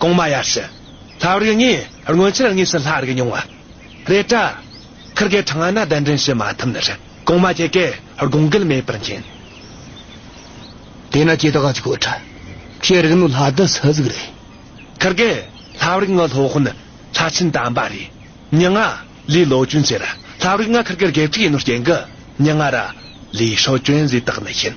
གོང་མ་ཡར་ཞུ། ལྷ་རིགས་ལྔའི་སྔོན་ཆད་དངོས་སུ་ལྷ་རིགས་མྱོང་བ་རེད། བྲག་ཁུར་གའི་གྲང་ན་གདན་འདྲེན་བྱེད་མ་ཐུབ་ན་རེད་གོང་མ་ཁྱེད་ཀས་དགོངས་འགལ་མེད་པར་མཁྱེན། དེས་ན་ཁྱེད་དགའ་ཆོག་ཁྲ་ཁྱེད་རིགས་ནི་ལྷ་སྡེ་སུ་ཟིག་རེད། ཁུར་གའི་ལྷ་རིགས་ལྔ་ལྷོ་ཧོན་ལྷ་ཆེན་དམ་པ་རེད་ཉི་ལྔ་ལའི་ལོ་གྱོན་ཟེར། ལྷ་རིགས་ལྔ་ཁུར་གའི་དགེ་ཕྲུག་ཡིན་ནོ་རྐྱེན་གྱི་ཉི་ལྔ་ར་ལའི་ཧྲོ་གྱོན་ཟེ་དག་ནི་ཤེས།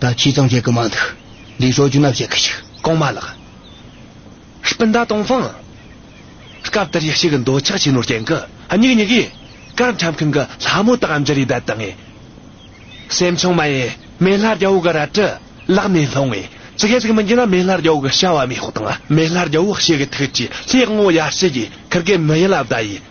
ད་ཁྱི་ཙང་བྱེད་གི་མ་འདུག་ལས་ཞོ་རྒྱུ་ན་བྱེད་གི་ཞིག་གང་མ་ལགས། སྤུན་ཟླ་དང་ཕང། སྐབས་དེར་ཡི་ཤིག་འདོད་ཆགས་ཆེན་ནོར་སྐྱེན་གི་སྙིགས་སྙིགས་ཡིན། སྐར་འཁྲབ་མཁན་གི་ལྷ་མོ་དག་འཇིར་ཡི་དད་དང་ངེས། སེམས་ཆུང་མ་ཡིན་མེ་ལྷ་རྒྱ་བོ་གི་རལ་གྲི་བརླག་ནས་ལྷུང་བས་ཙི་གེ་ཙིག་མི་འགྱིང་ན་མེ་ལྷ་རྒྱ་བོ་གི་བྱ་བ་མི་ཤོག་དང་མེ་ལྷ་རྒྱ་བོ་ཤེས་གི་ཐུགས་ཀྱི་ལྷའི་དབང་བོ་ཡར་སྐྱེས་ཀྱི་ཁར་གི་མི་ཡི་ལ་བཟླ་ཡིས།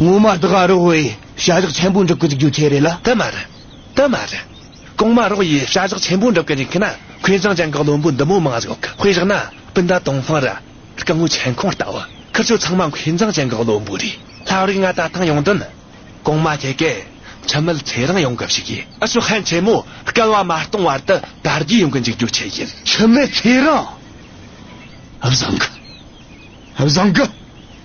ངོ་མ་དགའ་རོགས་བས་བྱ་གཞག་ཆེན་པོ་འགྲུབ་གི་འཇུག་རྒྱུ་དེ་རེད་ལ་དེ་མ་རེད་དེ་མ་རེད་གོང་མ་རོགས་ཡས་བྱ་གཞག་ཆེན་པོ་འགྲུབ་གི་འཇུག་མཁན་ན་ཁོས་བྱང་ཆེན་གི་བློན་པོ་འདི་མོ་མང་ཞིག་ཁོས་བཞག་ན་སྤུན་ཟླ་དང་ཧྥང་ར་རྐང་བོ་ཆེན་ཁོང་ལྟ་བུ་ཁུར་ཆོས་ཚང་མ་ཁོས་བྱང་ཆེན་གི་བློན་པོ་རེད་ལྷ་རིག་ང་ད་ཐང་ཡོང་དོན་གོང་མ་ཁྱེད་ཀྱི་ཁྱིམ་མིལ་ཚེ་རིང་ཡོང་གི་ཞིག་ཡིན་ཨ་ཤོ་ཧན་ཆེན་མོ་སྐལ་བ་མ་སྟོང་བར་དུ་དར་རྒྱས་ཡོང་གི་འཇུག་རྒྱུ་ཁྱེད་ཡིན། ཁྱིམ་མིལ་ཚེ་རིང་བཟང་གི་བཟང་གི།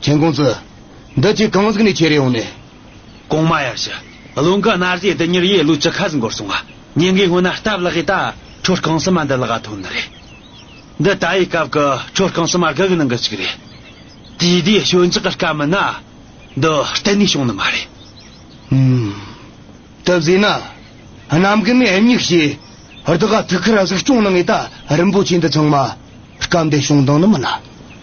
མཁྱེན་ཀུང་ཙི། འདི་ཁྱོད་གང་ཟིག་ནས་ཁྱེར་ཡོང་ནས། གོང་མ་ཡར་ཞུ། བློ་འགའ་རྣ་བཟས་དེ་ཉིར་ཡས་ལུས་ཅི་ཁ་ཟིག་འགོར་སོང་ང། ཉིན་འགའི་སྔོན་ན་སྟབས་ལགས་ཡས་ད་ཁྲོ་རྐང་སི་མ་འདི་ལག་ཐོན་ནི་རེད། འདི་ད་ཡའི་སྐབས་ཀི་ཁྲོ་རྐང་སི་མ་དགག་གི་ནང་གི་ཅིག་རེད། དེའི་དུས་ཞོད་འཇགས་གི་སྐབས་མིན་ན། འདི་གཏན་ནས་བྱུང་ནི་མ་རེད། ཧུམ། སྟབས་བཟས་ན། གནམ་གི་ནས་སྙིགས་ཞེ། རྡི་ག་ཐུག་ཁར་གཟིགས་སྐྱོང་ནི་ངས་ད་རིན་པོ་ཆེ་འདི་ཚང་མ། སྐབས་འདི་བྱུང་དང་ནི་མིན་ན།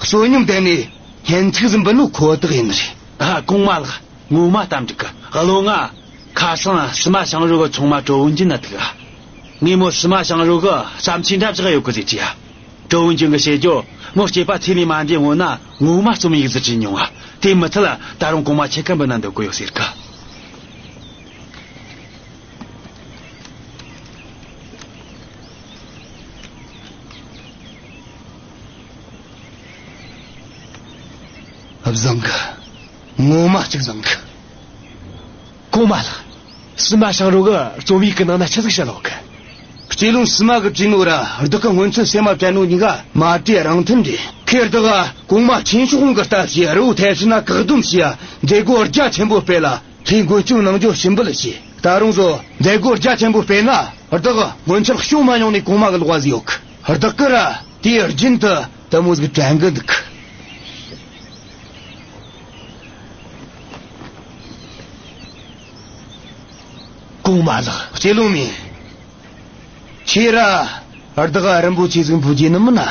བསོད་སྙོམས་དེ་ནི་ལྷན་ཅིག་ཟིན་པ་ནི་ཁོ་ཐག་ཡིན་ནི་རེད། གོང་མ་ལགས་ངོ་མ་གཏམ་འགྲིག་གི་བློ་ང། ཁ་སང་ཕྱི་མ་ཞང་རུ་གི་ཚོང་མ་ཀྲོ་ཝུན་ཅུན་ལ་ཐུག་ཨ། ངས་མོ་ཕྱི་མ་ཞང་རུ་གི་བསམ་ཚུལ་འདྲ་བཞག་ཡོད་གི་རེད་ཅེས་ཨ། ཀྲོ་ཝུན་ཅུན་གྱི་བཤད་རྒྱུར་མོ་སྐྱེས་པ་ཚེ་ལས་མ་འདས་སྔོན་ན་ངོ་མ་རྩོམ་ཡིག་ཟིག་བྲིས་མྱོང་ཨ་དེ་མི་ཚད་ད་རུང་གོང་མ་ཁྱེད་ཀ་འབུ་ན་འདོད་གི་ཡོད་ཟེར་གི། བཟང་གི། ངོ་མ་གཅིག་བཟང་གི། གོང་མ་ལགས། ཕྱི་མ་བྱང་རོག་གི་རྩོམ་ཡིག་གི་ནང་ན་ཆི་ཟིག་བྱེད་ལོག་གི། སྐྱེས་ལུང་ཕྱི་མ་གི་བྲིས་ནོ་ར་བདུག་གི་སྔོན་ཚུལ་སེ་མ་བྲན་ནོ་ཉི་ག་མ་བྲིས་རང་མཐུན་འདྲེ་ཁེར་བདག་ག་གོང་མ་ཆེན་ཕྱོགས་ཧོང་གི་ལྟ་བྱེད་རི་བོ་ཐལ་ཕྱི་ན་བཀག་སྡོམ་བྱེད་ཡ་མཛད་སྒོ་རྒྱ་ཆེན་པོ་སྤེལ་ལ་ཁྱེད་མགོ་བསྐྱུར་ནང་འཇོག་ཞིམ་འབུལ་བྱེད་ད་རུང་བཟོ་མཛད་སྒོ་རྒྱ་ཆེན་པོ་སྤེལ་ན་བདག་ག་སྔོན་ཚུལ་ཤོག་མ་མྱོང་ནས་གོང་མ་གི་ལོག་བ་ཟིག་ཡོག་གི། བདག་གིས་ར་དེའི་རྒྱུན་དུ་དལ་མོ་ཟིག་དྲན་གྱི་འདུག། གོང་མ་ལགས། སྐྱེ་རླུང་མིན། ཁྱེད་ར་བདག་རིན་པོ་ཆེ་ཟིག་འཕུལ་རྒྱུ་ནི་མིན་ན།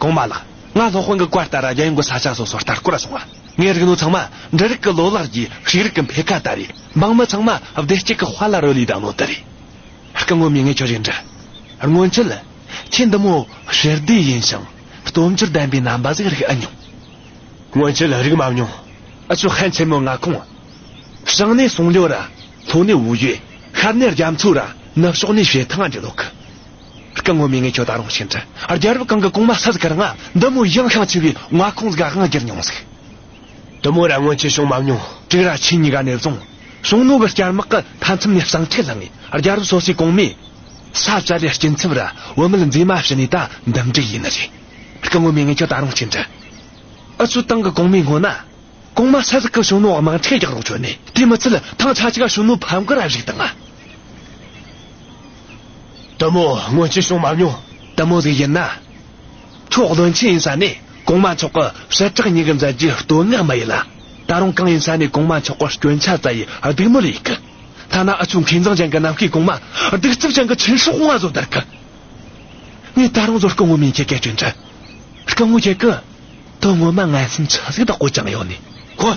གོང་མ་ལགས། སྔར་སློབ་དཔོན་གྱི་བཀའ་ལྟར་རྒྱ་ཡོངས་ཀྱི་ས་ཆ་སོ་སོར་ལྟ་སྐོར་ལ་སོང་བ། ངའི་རིག་ནོར་ཚང་མ་འབྲི་རིགས་ཀྱི་ལོ་ལག་གིས་ཤེས་རིག་གི་འཕེལ་ཁ་ལྟ་རེད། འབངས་མི་ཚང་མ་བདེ་སྐྱིད་ཀྱི་དཔའ་ལ་རོལ་ལུས་དང་ལོ་དུ་རེད། སྐུ་ངོ་མི་ངས་ཁྱོད་རེ་འདྲི། སྔོན་ཆད། ཁྱེད་འདི་མོ་ཞི་བདེ་ཡིན་ཞིང་སྟོབས་འབྱོར་ལྡན་པའི་རྣམ་པ་ཟིག་རིག་ཨེ་མྱོང། སྔོན་ཆད་རིག་མ་མྱོང། ཆུ་ཧན་ཆེན་མོ་ལྔ་ཁོངས། བྱང་ནས་སུང་ལོ་ར། ལྷོ་ནས་ཝུའུ་ཡོས། ཤར་ནས་རྒྱ་མཚོ་ར། ནུབ་ཕྱོགས་ནས་ཞེ་ཐང་རྒྱ་ལོ་ཁི། སྐུ་ངོ་མི་ངས་ཁྱོད་ད་རུང་ཤི་འདྲི། རྒྱལ་རབས་གང་གི་གོང་མ་ས་ཟིག་གར་ང། འདི་མོ་གཞན་ཤིང་ཆུ་བའི་མངའ་ཁོངས་ཟིག་ག་ང་གྱེར་མྱོང་ཟིག། འདི་མོ་ར་སྔོན་ཆད་བྱུང་མ་མྱོང། དྲུག་ར་ཆེན་གཉིས་ཀ་ནས་བཟུང། གཞུང་ནོར་བུ་སྐྱར་དམག་གི་མཐའ་མཚམས་ནས་བསང་ཁྲི་ལྷག་ངེས་རྒྱལ་རབས་སོ་སོའི་གོང་མས། ས་བཅད་པའི་སྐྱིན་ཚབ་ར་བོད་མིར་མཛེས་མ་ཕྱི་ནས་ད་འདུམ་འགྲིག་ཡིན་ནི་རེད། སྐུ་ངོ་མི་ངས་ཁྱོད་ད་རུང་ཤི་འདྲི། ཨུ་ཚུགས་ཏང་གི་གོང་མའི་སྔོན་ན། གོང་མ་ས་ཟིག་གི་གཞུང་ནོར་དམག་འཁྲིས་རྒྱག་རོགས་བྱོས་ནས་དེ་མི་ཚད་ཐང་ཆ་གཅིག་ག་གཞུང་ནོར་ཕམ་གི་ར་བཞུགས་དང། ལྟད་མོ་སྔོན་ཆད་བྱུང་མ་མྱོང། ལྟད་མོ་ཟིག་ཡིན་ན། ཁྱོད་བློན་ཆེན་ཡིན་ས་ནས་གོང་མ་མཆོག་གི་བྱེ་བྲག་ཉན་གི་མཛད་རྒྱུའི་བསྟོད་བསྔགས་མ་ཡིན་ལ། ད་རུང་གང་ཡིན་ས་ནས་གོང་མ་མཆོག་གི་སྐྱོན་ཆ་ཙཱ་ཡི་སྡིགས་མོ་ལས་ཡིན་གི། ཐ་ན་ཨ་ཆུ་མཁས་མཛངས་ཅན་གྱི་ནམ་མཁའི་གོང་མ་སྡིགས་རྩུབ་ཅན་གྱི་ཆོས་ཧྲུག་བསྔགས་བཟོ་བརྡར་གི། ངས་ད་རུང་བཟོ་སྐུ་ངོ་མིན་ཁྱེད་ཀྱི་སྐྱོན་ཆ། སྐུ་ངོ་ཁྱེད་ཀྱི། དོན་ངོ་མ་ངའི་སེམས་ཆ་ཟིག་ད་གོ་ཅང་ཡོང་ནས་གོ།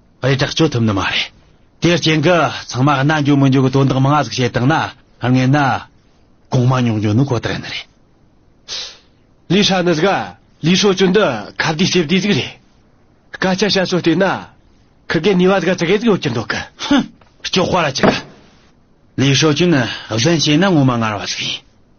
རེ་དྲག་སྤྱོད་ཐུབ་ནི་མ་རེད། དེའི་རྐྱེན་གྱིས་ཚང་མ་གནའ་འགྱོ་མི་འགྱོ་གི་དོན་དག་མང་ཟིག་བྱེད་བཏང་ན་ངན་ན། གོང་མ་མྱོང་འགྱོ་ནི་ཁོ་ཐག་ཡིན་རེད། ལི་ཧྲ་ནི་ཟིག་ལི་ཧྲོ་ཅུན་འདི་ཁ་བརྡའི་ཞེ་བདེ་ཟིག་རེད། སྐད་ཆ་བཤད་སྲོལ་བལྟས་ན། ཁི་གའི་ནུས་བ་ཟིག་ཙི་གེ་ཟིག་ཡོད་ཀྱི་འདུག་གི། ཧུམ། སྐྱོ་དཔའ་ར་ཅི་གི། ལི་ཧྲོ་ཅུན་གཞན་བྱས་ན་ངོ་མ་ངར་བ་ཟིག་ཡིན།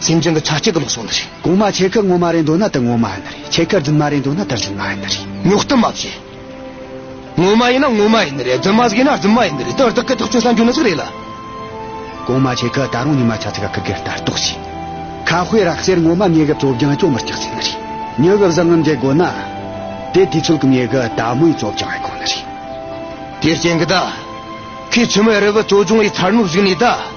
སེམས་ཅན་གྱི་ཆ་གཅིག་གི་ལོག་སོགས་ནི་རེད། གོང་མ་ཆེ་ཁར་སྔོ་མ་རེད་འདོད་ན་དེ་སྔོ་མ་ཡིན་ནི་རེད་ཆེ་ཁར་རྫུན་མ་རེད་འདོད་ན་དེ་རྫུན་མ་ཡིན་ནི་རེད། ཉོག་གཏམ་མ་བྱེད། སྔོ་མ་ཡིན་ན་སྔོ་མ་ཡིན་ནི་རེད་རྫུན་མ་ཟིག་ཡིན་ན་རྫུན་མ་ཡིན་ནི་རེད་དེ་བར་དག་གི་ཐག་གཅོད་ས་འཇུག་ནི་ཟིག་རེད་ལ། གོང་མ་ཆེ་ཁར་ད་རུང་ཉི་མ་ཆ་ཚིག་ག་གི་གེར་ལྟ་རྟོག་བྱེད། ཁ་དཔེ་རག་ཟེར་སྔོ་མ་ཉེ་གི་བཙོ་བྱང་ཅོ་མི་སྐྱག་ཟེར་ནི་རེད་ཉི་གི་བཟང་ངམ་འདྲེ་དགོ་ན། དེ་དུས་ཚོད་གི་ཉེ་གི་ད་མོའི་བཙོ་བྱང་ཡི་གོ་ནི་རེད། དེ་རྐྱེན་གི་ད། ཁོས་ཆུ་མེ་རི་གི་བཙོ་བྱང་ཡི་ཚར་ནུབ་ཟིག་ནི་ད།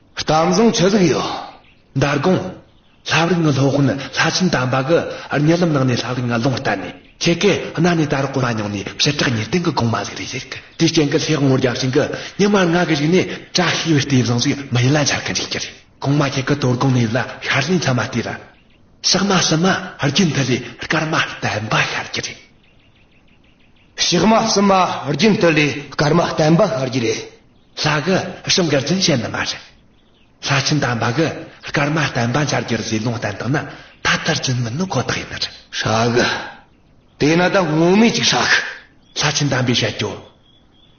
གཏམ་བཟང་ཆེ་ཟིག་ཡོད། འདར་དགོངས། ལྷ་བརིག་ངི་ལྷོ་དཔོན་ལྷ་ཆེན་དམ་པ་གི་རྙི་ལམ་ནང་ནས་ལྷ་བརིག་ངི་ལོང་བསྟར་ནས་ཁྱེད་ཀྱི་རྣ་ནས་ད་རུ་གོ་མ་མྱོང་ནས་ཕྱི་དྲག་ཉེར་བསྟན་གི་དགོངས་མ་ཟིག་རེད་ཟེར་གི་དེའི་རྐྱེན་གི་ལྷའི་ངོར་རྒྱབ་ཤིང་གི་ཉི་མར་ང་གི་རིག་ནས་བཀྲ་ཤིས་པའི་གཏེར་བཟང་ཟིག་མི་ཡིན་ལ་འཆར་གི་འཇིག་གི་རེད་གོང་མ་ཁྱེད་གི་དོར་དགོངས་ནས་ཡོད་ལ་ཤར་ལྷའི་མཚན་མ་བལྟས་ལ། ཕྱག་མ་གསུམ་མ་རྒྱུན་མཐུད་ལས་སྐར་མ་བསྟན་པ་ཤར་གྱི་རེད། ཕྱག་མ་གསུམ་མ་རྒྱུན་མཐུད་ལས་སྐར་མ་བསྟན་པ་ཤར་གྱི་རེད། ལྷ་གི་བྱིན་དགར་འཛིན་བྱེད་ནི་མ་རེད། ལྷ་བྱིན་དང་འབའ་གི་སྐར་མ་བསྟན་པ་འཆར་རྒྱུར་ཟིལ་ལོང་བསྟན་དག་ན་ད་ལྟར་འཛིན་མིན་ནི་ཁོ་ཐག་ཡིན་ནི་རེད། ཧྲཱི་གི། དེས་ན་ད་སྔོན་མེད་ཅིག་ཧྲཱི་གི། ལྷ་བྱིན་དམ་པའི་བཤད་རྒྱུ།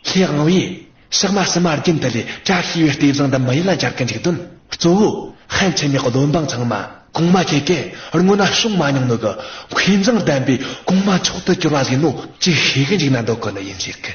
ལྷའི་དབང་བོས། ཞག་མ་སུ་མ་རྒྱུན་དུ་ལས་གྲྭ་ཤེས་པའི་ལྟས་བཟང་འདི་མི་ཡི་ལ་སྦྱར་གི་འཇུག་དོན་གཙོ་བོ། ཧན་ཆེན་མོའི་བློན་འབངས་ཚང་མ་གོང་མ་ཁྱེད་ཀྱི་སྔོན་ན་བྱུང་མ་མྱོང་མོད་ཀྱི། མཁས་མཛངས་ལྡན་པའི་གོང་མ་མཆོག་ཏུ་གྱུར་བ་ཟིག་ནོ་ཅིག་ཤེས་གི་འཇུག་ན་འདོད་ཁོ་ནི་ཡིན་ཟེར་གི།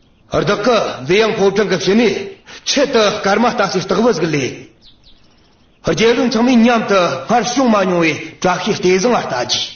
བདག་གི་མཛེས་ཡངས་ཕོ་བྲང་གི་བྱེ་མའི་ཆེད་དུ་སྐར་མ་ལྟ་སའི་སྟག་བུ་ཟིག་ལས། རྒྱལ་བློན་ཚང་མས་མཉམ་དུ་སྔར་བྱུང་མ་མྱོང་བའི་བཀྲ་ཤིས་ལྟས་བཟང་བ་ལྟ་བགྱིས།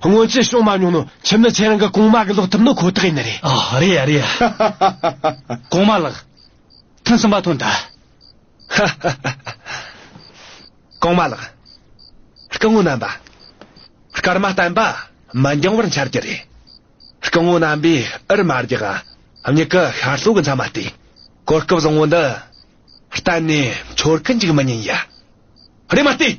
སྔོན་ཆད་བྱུང་མ་མྱོང་ནོ། ཁྱིམ་ནི་ཁྱེད་རང་གི་གོང་མ་གི་ལོག་ཐུབ་ནི་ཁོ་ཐག་ཡིན་ནི་རེད། ཨ་རེད་ཨ་རེད། གོང་མ་ལགས། ཐུན་གསུམ་པ་ཐོན་ད། གོང་མ་ལགས། སྐུ་ངོ་རྣམ་པ། སྐར་མ་བསྟན་པ་མི་འགྱང་བར་འཆར་གྱི་རེད། སྐུ་ངོ་རྣམ་པས་ཨིར་མར་གྱི་གངས་ཉི་གི་ཤར་ལྷོ་གི་མཚམས་མ་སྟེ། གོ་སྐབས་བཟང་བོ་འདི། གཏན་ནས་འཆོར་གི་འཇུག་མི་ཉན་ཡ། རེད་མ་ལྟོས།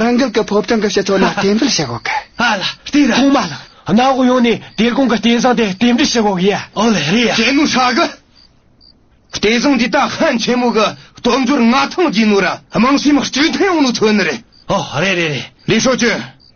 རང་འགུལ་གྱི་ཕོ་བྲང་གི་སྤྱི་ཚོགས་ནང་རྟེན་འབྲེལ་བྱེད་དགོས་ཀི། ཨ་ལ་དེ་ར། ཐོག་མ་ལ། གནའ་བོ་ཡོང་ནས་དེ་གོང་གི་རྟེན་བཟང་དེ་རྟེན་འབྲེལ་བྱེད་དགོས་ཀི་ཡ། ཨོ་ལེ་རེད་ཡ། དྲན་ནུ་ཧྲ་གི། རྟེན་བཟང་འདི་ད་ཧན་ཆེན་མོ་གི་སྟོབས་འབྱོར་མངའ་ཐང་རྒྱས་ནུ་ར་དམངས་སེམས་སྐྱིད་ཐོན་ཡོང་ནུ་ཐོན་ནི་རེད། ཨོ་རེད་རེད་རེད། ལི་ཧྲོ་ཅུན།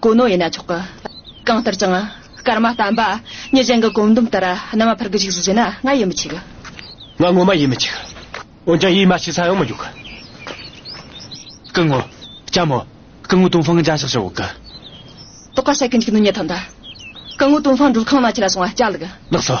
གོ་ནོ་ཡིན་ན་ཆོག་གི། གང་ལྟར་ཀྱང། སྐར་མ་བལྟམས་པ། ཉེ་ཅན་གྱི་བཀོད་འདོམས་ལྟར་རྣམ་པ་འཕར་གྱི་འཇིགས་སུ་བྱེད་ན་ང་ཡིད་མི་ཆེས་གི། ང་ངོ་མ་ཡིད་མི་ཆེས་གི། འོན་ཀྱང་ཡིད་མ་ཆེས་ས་ཡོང་མི་འཇུག་གི། སྐུ་ངོ། ལྕམ་མོ། སྐུ་ངོ་ཏུང་ཧྥང་གི་འཇའ་ཤག་ཤག་འོག་གི། ཏོག་ཀ་ཤ་གི་འཇིགས་ནུ་ཉལ་ཐང་དུ། སྐུ་ངོ་ཏུང་ཧྥང་སྒྲུབ་ཁང་ནང་ཁྱི་ལ་སོང་བ་ཅག་ལགས། ལགས་སོ།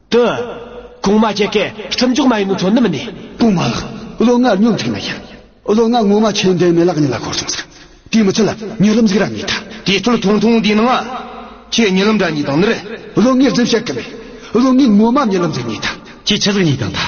དུ། གོང་མ་སྐྱེ་སྐད་སྤྲིན་མགྱོགས་མ་ཡིན་ནོ་མཚོ་སྣུམ་ནི། གོང་མ་ལགས། བློ་ངག་སྙོམས་ཐིག་མ་ཤར། བློ་ངག་ངོ་མ་ཆེན་ལྡན་མེད་ལགས་ཉིད་ལ་འཁོར་བྱུང་ཟེར། དེའི་མི་ཚེ་ལ་ཉེ་ལམ་གཟིགས་ར་གཉིས་དང། དེའི་སྟོད་ཐུང་ཐུང་དེའི་ནང། ཁྱེད་ཉེ་ལམ་དྲ་གཉིས་དང་ནི། བློ་ངེས་འཛིན་བཤད་གི་མེད། བློ་ངེས་ངོ་མ་ཉེ་ལམ་གཟིགས་གཉིས་དང། ཁྱེད་ཕྱི་གཟིགས་གཉིས་དང་དང།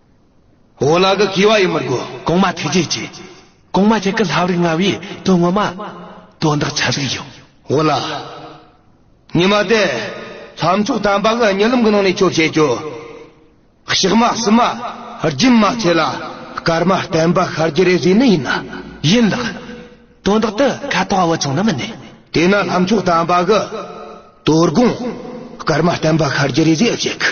འོ་ལ་གི་གི་བ་ཡི་མི་དགོས། གོང་མ་ཐུགས་རྗེ་ཆེ། གོང་མ་ཁྱེད་ཀྱི་ལྷབ་རིག་ལྔ་བའི་དོན་ངོ་མ། དོན་དག་ཆ་ལུགས་ཡིན། འོ་ལ། ཉི་མ་དེ། ལྷ་མཆོག་དམ་པ་གི་ཉེ་ལམ་གི་ནང་ནས་ཁྱོད་བྱེད་ཁྱོད། གཤེགས་མ་བསུ་མ། སྦྱིན་མ་ཚེ་ལ། སྐར་མ་བསྟན་པ་ཤར་གྱི་རེ་བཟོས་ནི་ཡིན། ཡིན་ལགས། དོན་དག་དུ་ཁ་དོག་བོ་ཆུང་ན་མི་གནས། དེས་ན་ལྷ་མཆོག་དམ་པ་གི། དོ་དགོང། སྐར་མ་བསྟན་པ་ཤར་གྱི་རེ་བཟོས་ཨེ་བྱེད་གི།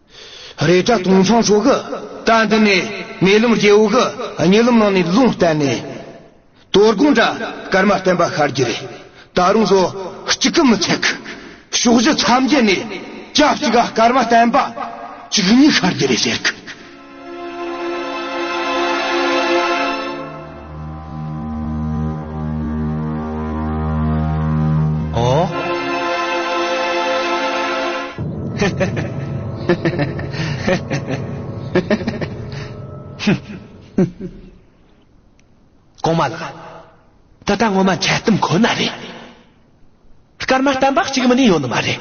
རེས་གྲྭ་སྟོང་ཚང་ཆོ་ག་གྲྭ་འདི་ནས་མེ་ལོང་རྒྱལ་བོ་གི་ཉེ་ལམ་ནང་ནས་ལུང་བསྟན་ནས། དོལ་གུང་གྲྭ་སྐར་མ་བསྟན་པ་ཤར་རྒྱུ་རེད། ད་རུང་སོ་གཅིག་གི་མི་ཚད་ཀྱི་ཕྱོགས་བཞི་མཚམས་བརྒྱད་ནས་སྐྱ་གཅིག་ག་སྐར་མ་བསྟན་པ་གཅིག་གཉིས་ཤར་རྒྱུ་རེད་ཟེར་གི། གོང་མ་ལགས་ད་ལྟ་ངོ་མ་འཁྱལ་གཏམ་ཁོ་ན་རེད་སྐར་མ་གཏམ་པ་གཅིག་མི་ནས་ཡོད་ནི་མ་རེད་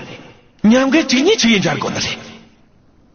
ཉམས་དགའི་གཅིག་ཉིད་ཅིག་ཡིན་འཇར་གོ་ནི་རེད་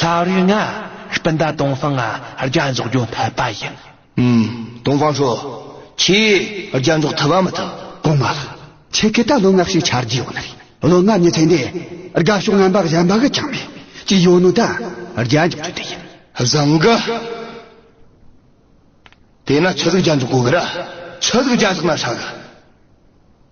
ལྷ་རིགས་ལྔ། སྤུན་ཟླ་དུང་སང་རྒྱ་འཛོགས་རྒྱུ་འཐད་པ་ཡིན། དུང་སང་ཚོ། ཁྱེད་རྒྱ་འཛོགས་ཐུབ་བམ་མི་ཐུབ་དགོངས་མ་ལགས། ཁྱེད་ཀྱི་ད་ལོ་སྔགས་ཤིག་འཆར་རྒྱུ་ཡོད་ན་རེད། ལོ་སྔ་ཉིན་ཚེ་འདས་དགའ་ཕྱོགས་རྣམ་པ་གཞན་པ་གི་ཆང་མེད་ཅིག་ཡོད་ནོ་ད་རྒྱ་འཇོག་རྒྱུ་དེ་ཡིན། བཟང་གི། དེས་ན་ཆོས་ལུགས་རྒྱ་འཛོགས་གོ་གི་ར། ཆོས་ལུགས་རྒྱ་འཛོགས་ན་ཧྲ་གི།